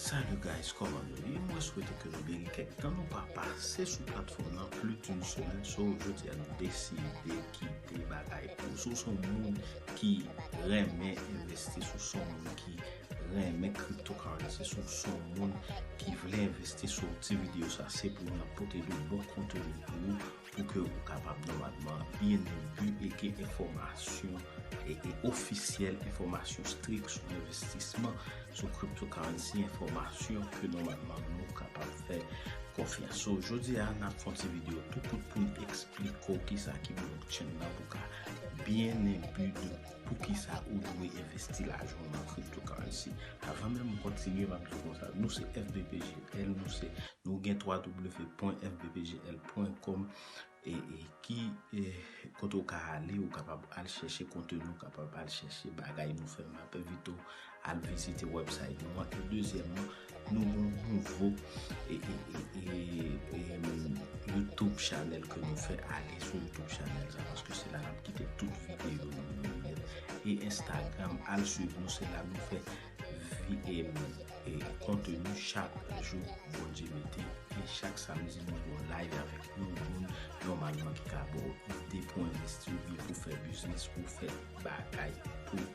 Salut guys, koman nou ye? Mwen swete ke nou byen gen kèk tan nou pa pase sou platfòm nan plis toun semen so jodi a nou deside kite bagay pou sou son moun ki renmen investi sou son moun ki renmen cryptocurrency si w son moun ki vle envesti sou ti video sa se pou nou pote de bon konteni pou ou pou ke ou kapab nòmalman bnb e gen enfòmasyon e ofisyèl enfòmasyon strik sou envestisman sou cryptocurrency enfòmasyon ke nòmalman nou kapab fè konfyans so jodi a nap fon ti video tou kout pou nou eksplike ou kisa ki blockchain nan pou ka bnb de Poukisa ou dwe envesti lajan w nan cryptocurrency? Avan menm m kontinye map diw konsa, nou se fbpjl, nou se nou gen www.fbpjl.com e ki kote ou ka ale ou kapab al chèche konteni ou kapab al chèche bagay nou fè map envite w Al vizite website nou an e dezyèman nou gen yon nouvo youtube channel ke nou fè ale sou youtube channel sa paske se la nap kite tout videyo nou yo e instagram al swiv nou se la nou fè konteni chak jou Bondye mete e chak samdi nou gen yon live avèk yon moun nòmalman ki ka ba w ide pou envesti oubyen pou fè biznis pou fè bagay pou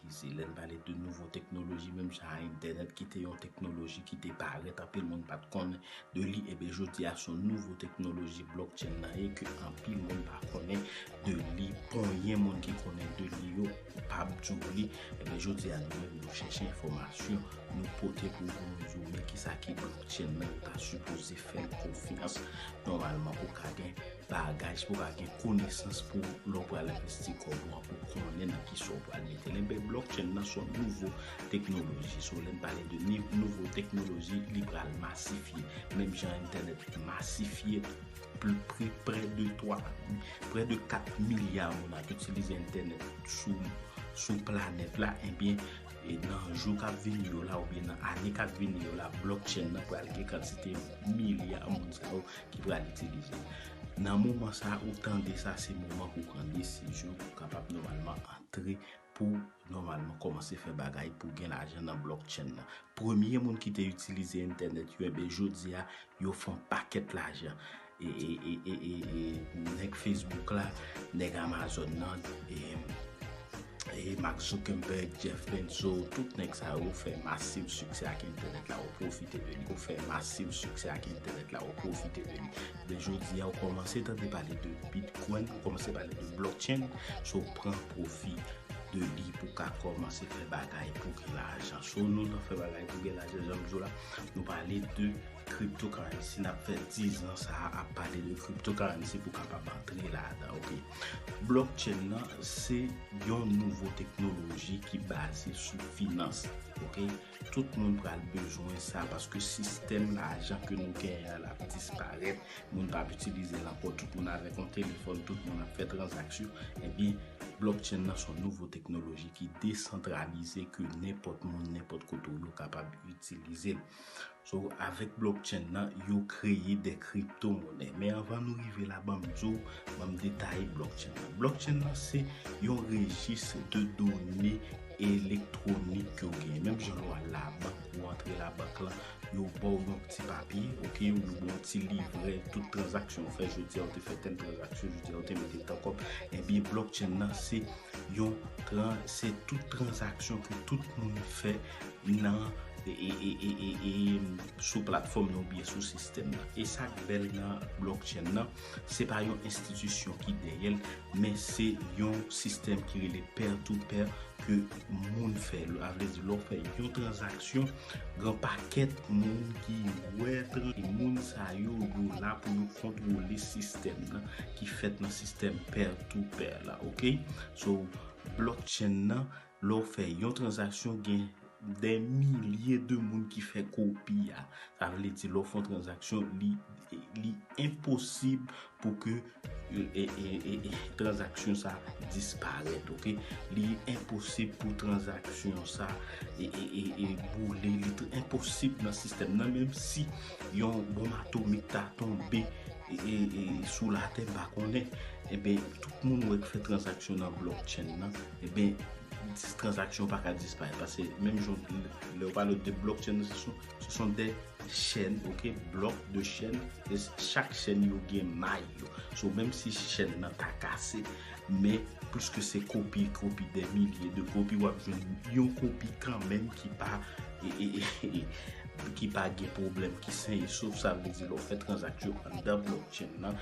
Se lè n pale de nouvo teknoloji menm jan a entènèt ki te yon teknoloji ki te parèt anpil moun pa t konnen de li enben jodi a son nouvo teknoloji blockchain nan ye ke anpil moun pa konnen de li konyen moun ki konnen de li yo pa m di w li enben jodi a nou menm nou chèche enfòmasyon nou pote pou nou nou di w men kisa ki blockchain nan ou ta sipoze fè l konfyans nòmalman pou w ka gen Pa gaj pou pa gen konesans pou lè w pral envesti kòb ou an pou konnen nan ki sa w pral mete l. Enben blockchain nan se yon nouvo teknoloji. So lè n pale de nouvo teknoloji li pral masifye. Menm jan entènèt masifye prè de 3, prè de 4 milya moun ap itilize entènèt sou planèt la enben nan jou k ap vini yo la oubyen nan ane k ap vini yo la blockchain nan pral gen kantite milya moun sa yo ki pral itilize. Nan moman sa ou tande sa se moman pou pran desizyon pou kapab nòmalman antre pou nòmalman kòmanse fè bagay pou gen lajan nan blockchain nan. Premye moun ki te itilize entènèt yo enben jodi a yo fon pakèt lajan. E nèg Facebook la, nèg Amazon nan. Mark Zuckerberg, Jeff Bezos, tout nèg sa yo fè masiv siksè ak entènèt la, yo pwofite de li. Yo fè masiv siksè ak entènèt la, yo pwofite de li. Men jodi a, ou kòmanse tande pale de Bitcoin, ou kòmanse pale de blockchain, so pran pwofi de li pou ka kòmanse fè bagay pou gen lajan. So nou nan fè bagay pou gen lajan, janm di w la, nou pale de cryptocurrency, n ap fè 10 ans a ap pale de cryptocurrency pou kapab antre ladan, ok. Blockchain nan se yon nouvo teknoloji ki baze sou finans. Ok, tout moun pral bezwen sa paske sistèm lajan ke nou gen an ap disparèt, moun pa ap itilize l ankò, tout moun avèk yon telefòn, tout moun ap fè tranzaksyon, ebyen blockchain nan son nouvo teknoloji ki desantralize ke nenpòt moun, nenpòt kote ou ye ou kapab itilize l. So avèk blockchain nan yo kreye de crypto monè. Men anvan nou rive la banm di w, banm detaye blockchain nan. Blockchain nan se yon rejis de done elektwonik ke w genyen. Menm jan ou al labank, ou antre labank la, yo ba w yon ti papye, ok, yo ba w yon ti livrè, tout tranzaksyon ou fè jodi a, ou te fè tèl tranzaksyon jodi a, ou te mete tan kòb, ebyen blockchain nan se yo tran se tout transaksyon pou tout moun fè nan sou platfòm nan oubyen sou sistèm nan. E sa k bèl nan blockchain nan, se pa yon enstitisyon ki dèyè l, men se yon sistèm ki rele pair to pair ke moun fè. A vle di lè w fè yon transaksyon, gen pakèt moun ki wè tran e moun sa yo yo la pou yo kontwole sistèm nan ki fèt nan sistèm pair. tou pè la ok so blok chen nan lè ou fè yon transaksyon gen dè milye de moun ki fè kopi ya sa vle di lè ou fè yon transaksyon li enposib pou ke transaksyon sa disparèt ok li enposib pou transaksyon sa e boule li enposib nan sistèm nan menm si yon bon atomik ta tonbe sou latè pa konnen ebyen tout moun wè k fè transaksyon nan blokchèn nan ebyen dis transaksyon pa ka disparèt pase menm jan lè ou pale de blokchèn nan se sou se son de chèn ok blok de chèn e chak chèn yo gen may yo so menm si chèn nan ta kase men pwiske se kopi kopi de milye de kopi wap jwenn yon kopi kanmenm ki pa e e e ki pa gen pwoblèm, ki sen e sof, sa vle di lè w fè tranzaksyon anndan blockchain nan,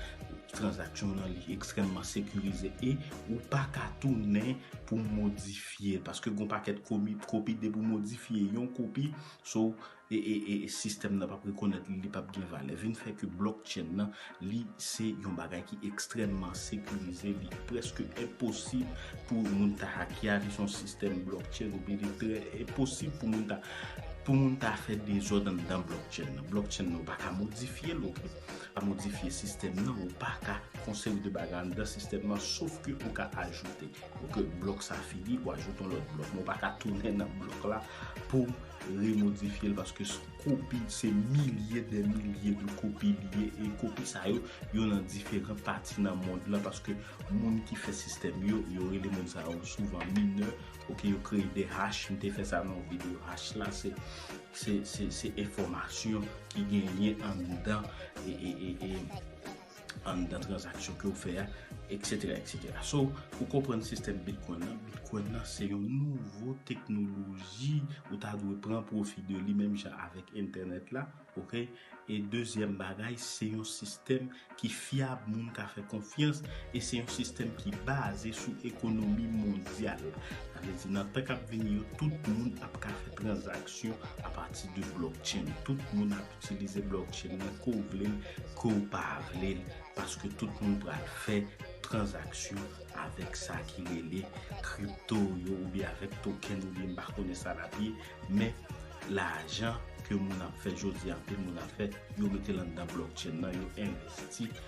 tranzaksyon nan li ekstrèmman sekirize e ou pa ka tounen pou modifye l, paske gon pakèt kopi, depi w modifye yon kopi, so, e sistèm nan p ap rekonèt li, li p ap gen valè, vin fè ke blockchain nan Li se yon bagay ki ekstrèmman sekirize, li prèske enposib pou moun ta hacke a, li son sistèm blockchain oubyen li trè enposib pou moun ta pou moun ta fè dezòd anndan blockchain nan. Blockchain nan ou pa ka modifye l ok, pa modifye sistèm nan, ou pa ka fon seri de bagay anndan sistèm nan sof ke ou ka ajoute ok blòk sa fini ou ajoute yon lòt blòk men ou pa ka tounen nan blòk la pou remodifye l paske Kopi, se milye dè milye de kopi li ye, e kopi sa yo, yo nan diferan pati nan mond lan, paske moun ki fè sistèm yo, yo rele moun sa yo souvan minè, ok, yo kreye de hash, m te fè sa nan yon videyo, hash la se, se, se, se enfòmasyon ki genyen anndan, e, e, e, e. anndan transaksyon ke ou fè a, eksetera, eksetera. So, pou konprann sistèm Bitcoin nan, Bitcoin nan se yon nouvo teknoloji ou ta dwe pran pwofi de li menm jan avèk entènèt la, ok? E dezyèm bagay, se yon sistèm ki fyab, moun ka fè konfyans, e se yon sistèm ki baze sou ekonomi mondyal. Sa vle di nan tan k ap vini yo, tout moun ap ka fè transaksyon apati de blockchain. Tout moun ap Itilize blockchain nan ke w vle l, ke w pa vle l, paske tout moun pral fè tranzaksyon avèk sa ki rele crypto yo oubyen avèk token oubyen m pa konnen sa l ap ye, men lajan ke moun ap fè jodi a, anpil moun ap fè, yo mete l anndan blockchain nan, yo envesti.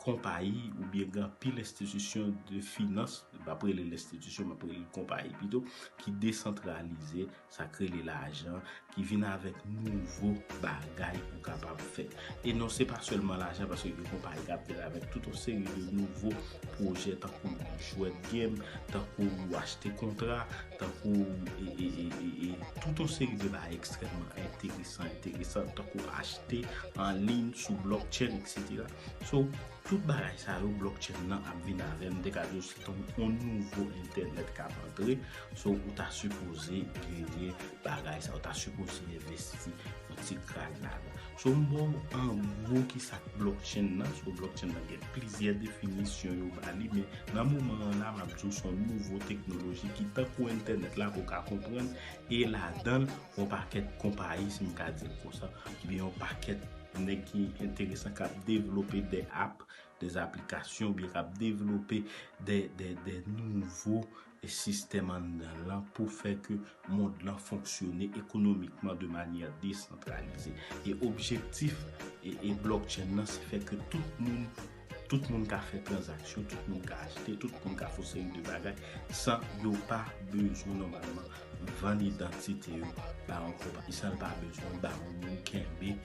konpayi oubyen gen anpil enstitisyon de finans, m pap rele l enstitisyon, m ap rele l konpayi pito, ki desantralize, sa k rele lajan, ki vin avèk nouvo bagay pou kapab fè. E non se pa sèlman lajan paske gen konpayi k ap vin avèk tout yon seri de nouvo pwojè tankou jwèt gem, tankou achte kontra, tankou tout yon seri de bagay ekstrèmman enteresan, enteresan tankou achte anliy sou blockchain etc. So, tout bagay sa yo blockchain nan ap vin avèl, m te ka di w se tankou yon nouvo entènèt k ap antre, so ou ta sipoze genyen bagay sa, ou ta sipoze envesti yon ti kras ladan. So m ba w an gwo kisa k blockchain nan, so blockchain nan gen plizyè definisyon yo ba li men nan moman an la m ap di w se yon nouvo teknoloji ki tankou entènèt la pou w ka konprann e ladan l yon pakèt konpayi si m ka di l konsa oubyen yon pakèt Nèg ki enteresan k ap devlope de app, de aplikasyon oubyen k ap devlope de nouvo sistèm anndan l lan pou fè ke mond lan fonksyone ekonomikman de manyè desantralize. E objektif Blockchain lan se fè ke tout moun Tout moun ka fè tranzaksyon, tout moun ka achte, tout moun ka fon seri de bagay san yo pa bezwen nòmalman vann idantite yo ba yon konpayi, san yo pa bezwen ba yon moun kenbe,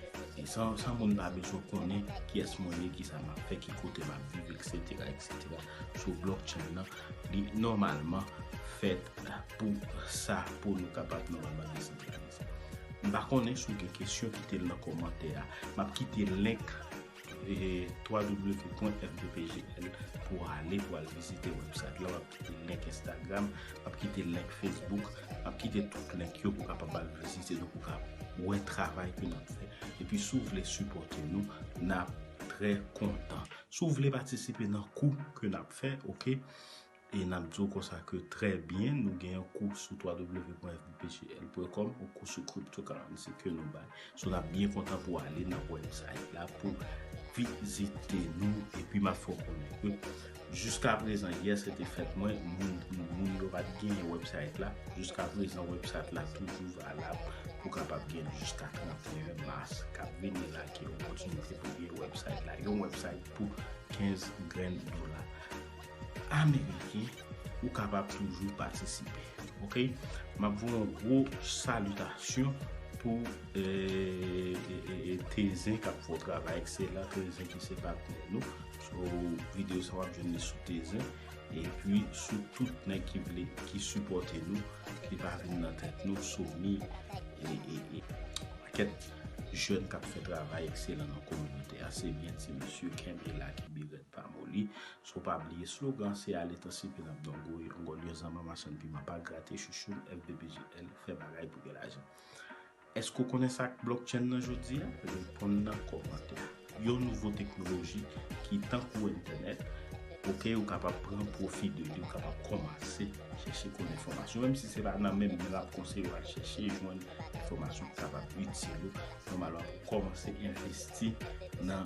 san moun pa bezwen konnen kiyès mwen ye, kisa m ap fè, ki kote m ap viv, eksetera, eksetera. So blockchain nan li nòmalman fèt pou sa, pou nou kapab nòmalman desantralize. M pa konnen si w gen kesyon kite l nan kòmantè a. M ap kite link www.fdpgl pou w ale pou w al vizite website la, w ap kite link Instagram, w ap kite link Facebook, w ap kite tout link yo pou w kapab al vizite nou, pou w ka wè travay ke n ap fè. Epi si w vle sipòte nou, n ap trè kontan. Si w vle patisipe nan kou ke n ap fè, ok, E n ap di w konsa ke trè byen, nou gen yon kou sou www.fbpjl.com, yon kou sou cryptocurrency ke nou bay. So n ap byen kontan pou w ale nan website la pou vizite nou. Epi m ap fè w konnen ke jiskaprezan, yè se te fèt mwen, moun yo pa t gen website la. Jiskaprezan website la toujou valab pou kapab gen jiska 31 mas k ap vini la ki opòtinite pou gen website la. Yon website pou 15 grenn dola. Ameriken ou kapab toujou patisipe ok map voye yon gwo salitasyon pou Tezin kap fè yon travay ekselan Tezin ki se patnè nou sou videyo sa wap jwenn li sou Tezin epi sou tout nèg ki vle ki sipòte nou ki pa vin nan tèt nou Sony e pakèt jèn kap fè travay ekselan nan kominote a se byen ti mesye kenbe la kenbe rèd pa moli Sou pa bliye slogan se ale tan sipi nap don gouye on gòl yon zanman machann piman pa grate chouchoum FBBGL fè bagay pou gen lajan Èske ou konnen sak blockchain nan jodia? Reponn nan kòmantè Yon nouvo teknoloji ki tankou entènèt ok ou kapab pran pwofi de li ou kapab kòmanse chèche konn enfòmasyon menm si se pa nan menm men map konseye w al chèche jwenn enfòmasyon ki kapab itil ou nòmalman pou kòmanse envesti nan